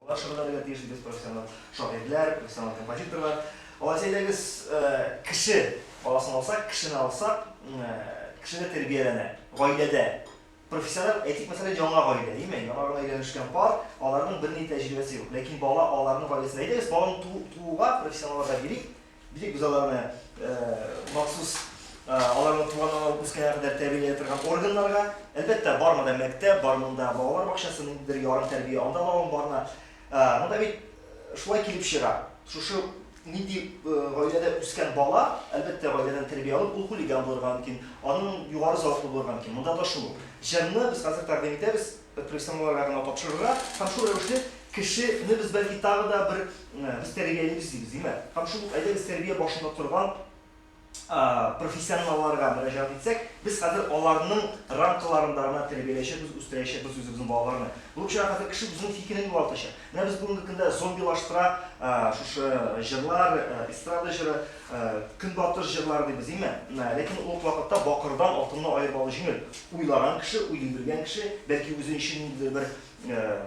Алар шөгыльләнергә генә тиеш, ди без, профессиональ шагыйрьләр, профессиональ композиторлар. Алайса әйдәгез, кеше баласын алсак, кешене алсак, кешене тәрбияләнә, гаиләдә. Профессиональ, әйтик, мәсәлән, яңа гаилә, димме, яңа гына өйләнешкән пар, аларның берни тәҗрибәсе юк. Ләкин бала аларның гаиләсендә. Әйдәгез, баланы тууга профессионалларга бирик. Бик без аларны махсус аларның туган аңа үскәнгә кадәр тәрбияләй торган органнарга, әлбәттә, бар монда мәктәп, бар монда балалар бакчасы, ниндидер ярым тәрбия анда лавын барына. Монда бит шулай килеп чыга. Шушы нинди гаиләдә үскән бала, әлбәттә, гаиләдән тәрбия алып, ул хулиган булырга мөмкин, аның югары зәвыклы булырга мөмкин. Монда да шул ук. Җырны без хәзер тәкъдим итәбез. профессионалларга гына тапшырырга һәм шул рәвешле кеше не без бәлки тагы да бер без тәрбиялибез дибез, димә. Һәм шул ук әйдәгез тәрбия башында торган профессионалларга мөрәҗәгать итсәк, без хәзер аларның рамкаларында гына тәрбияләячәкбез, үстерәячәкбез үзебезнең балаларны. Булып чыга хәзер кеше үзенең фикерен югалтачак. Менә без бүгенге көндә зомбилаштыра шушы җырлар, эстрада җыры, көнбатыш җырлары дибез, дими? Ләкин ул ук вакытта бакырдан алтынны аерып алу җиңел. Уйлаган кеше, уен белгән кеше, бәлки үзе өчен ниндидер бер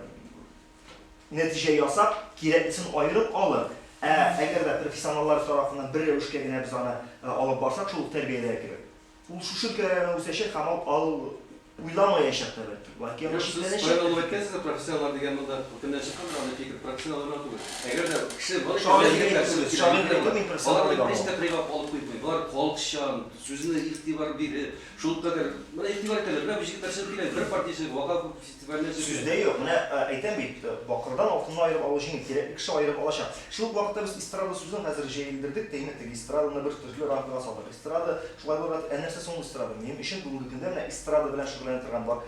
нәтиҗә ясап, кирәклесен аерып алыр. Ә әгәр дә профессионаллар тарафыннан бер рәвешкә генә без аны алып барсак, шул ук тәрбиядәге кебек. Ул шушы өлкәләрдә үсәчәк һәм аны ул уйламаячак та бәлки. Бәлки аны читләнәчәк. Сез аерылып әйткәнсез, профессионаллар дигән монда күптәннән чыккан бер андый фикер, профессионаллар гына түгел. Әгәр дә кеше бар икән, алар егетләр түгел, шагыйрьләр бар. Алар бит һич тә кыйгап алып куймый. Болар халыкчан, сүзенә игътибар биреп, шулкадәр. Менә игътибар итәләр. Менә бу җегетләр чыгып килә, бер партия җыелып, вафа Сүз дә юк, менә әйтәм бит, бакырдан алтынны аерып алу җиңел, кирәкле кеше аерып алачак. Шул ук вакытта без эстрада сүзен хәзер җәелдердек тә инде, теге эстраданы бер төрле рамкага салдык. Эстрада шулай булырга тиеш. Ә нәрсә соң ул эстрада? Минем өчен бүгенге көндә менә эстрада белән шөгыльләнә торган бар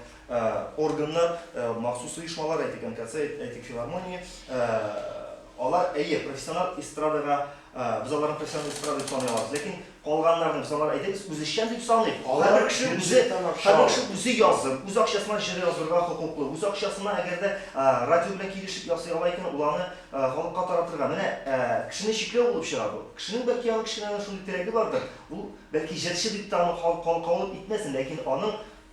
органнар, махсус оешмалар, әйтик, НКЦ, әйтик, филармония, алар, әйе, профессиональ эстрадага, без аларны профессиональ эстрада дип саный алабыз, ләкин Калганнарны без алар әйдәгез үзешчән дип саныйк. Һәрбер кеше үзе, һәрбер кеше үзе язып, үз акчасына җыр яздырырга хокуклы. Үз акчасына әгәр дә радио белән килешеп ясый ала икән, ул аны халыкка таратырга. Менә кешене чикләү булып чыга бу. Кешенең бәлки аның кечкенә генә шундый теләге бардыр, ул бәлки җырчы дип тә аны халык кабул итмәсен, ләкин аның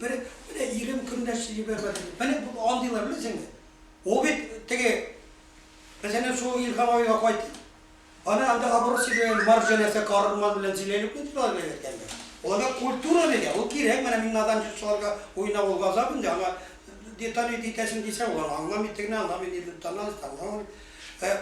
Бер менә ирем көн дә сөеп ябар иде. Менә бу андыйлар беләсеңме? Ул бит теге, мәсәлән, шул Илһам абыйга кайт. Аны анда оборот сөйләгән Марҗанәсә Карурман белән сөйләлүкме дип алар белән әйткәндә. Аларга культура дигән, ул кирәк, менә мин наданчы шуларга уйнап ул газап инде, аңа деталь итәсең дисә, ул аны аңламый, тегене аңламый, нине таналыйсы аңламый. Ә.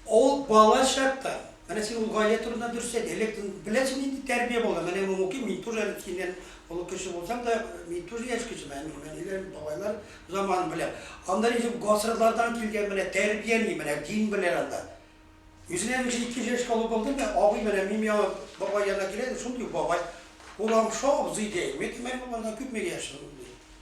Ул бала чактан, менә син ул гаилә турында дөрес әйт, элек беләсең нинди тәрбия булган, менә мин укыйм, мин тоже әле синнән олы кеше булсам да, мин тоже яшь кеше, менә минем әниләр, бабайлар заманын беләм. Анда ничек гасырлардан килгән менә тәрбия ни, менә дин белән анда. Үзенә мин шул икенче яшькә олы булдым да, абый менә минем яңа бабай янына килә дә, шундый ук бабай, урамша абзый ди, әйе, мин әйтәм, әй, бабай, күпмегә яшең? ди.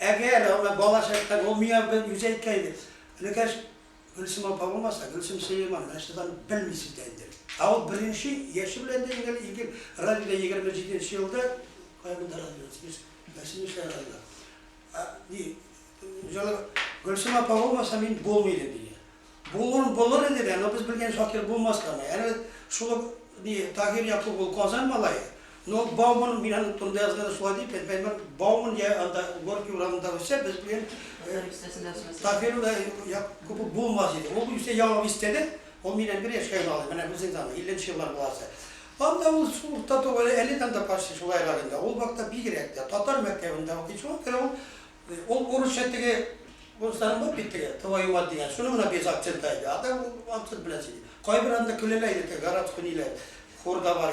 Әгәр аңа бала чакта ул миңа бер үзе әйткән иде, Энекәш, Гөлсем апа булмаса, Гөлсем Сөләйман нәрсәдан белмисең дә инде. Ә ул беренче яше белән дә иң элек радиода егерме җиденче елда, кая монда радио, без нәрсә нишләгән радиода, ди, җылы, Гөлсем апа булмаса, мин булмый идем, ди. Булыр, булыр иде дә, но без белгән факир булмаска ма. Әле шул ук ни Таһир Якуп ул Казан малае, но Бауман мин аның турында язганда шулай дип әйтә икән, бәлки Бауман я анда Горький урамында үссә, без белгән Таһир Якупов булмас иде. Ул үзе Яңа бистәдә, ул миннән бер яшькә генә олы, менә безнең заман, илленче еллар баласы. Анда ул шул урта туган, әле дә анда почти шул айларында, ул вакытта бигрәк тә татар мәктәбендә укый, шуңа күрә ул Ул урысча теге урысларның бар бит теге твою мать дигән, шуны гына без акцентта иде, а так ул акцент белән сөйли. Кайбер анда көләләр иде, теге городской ниләр, хурда бар.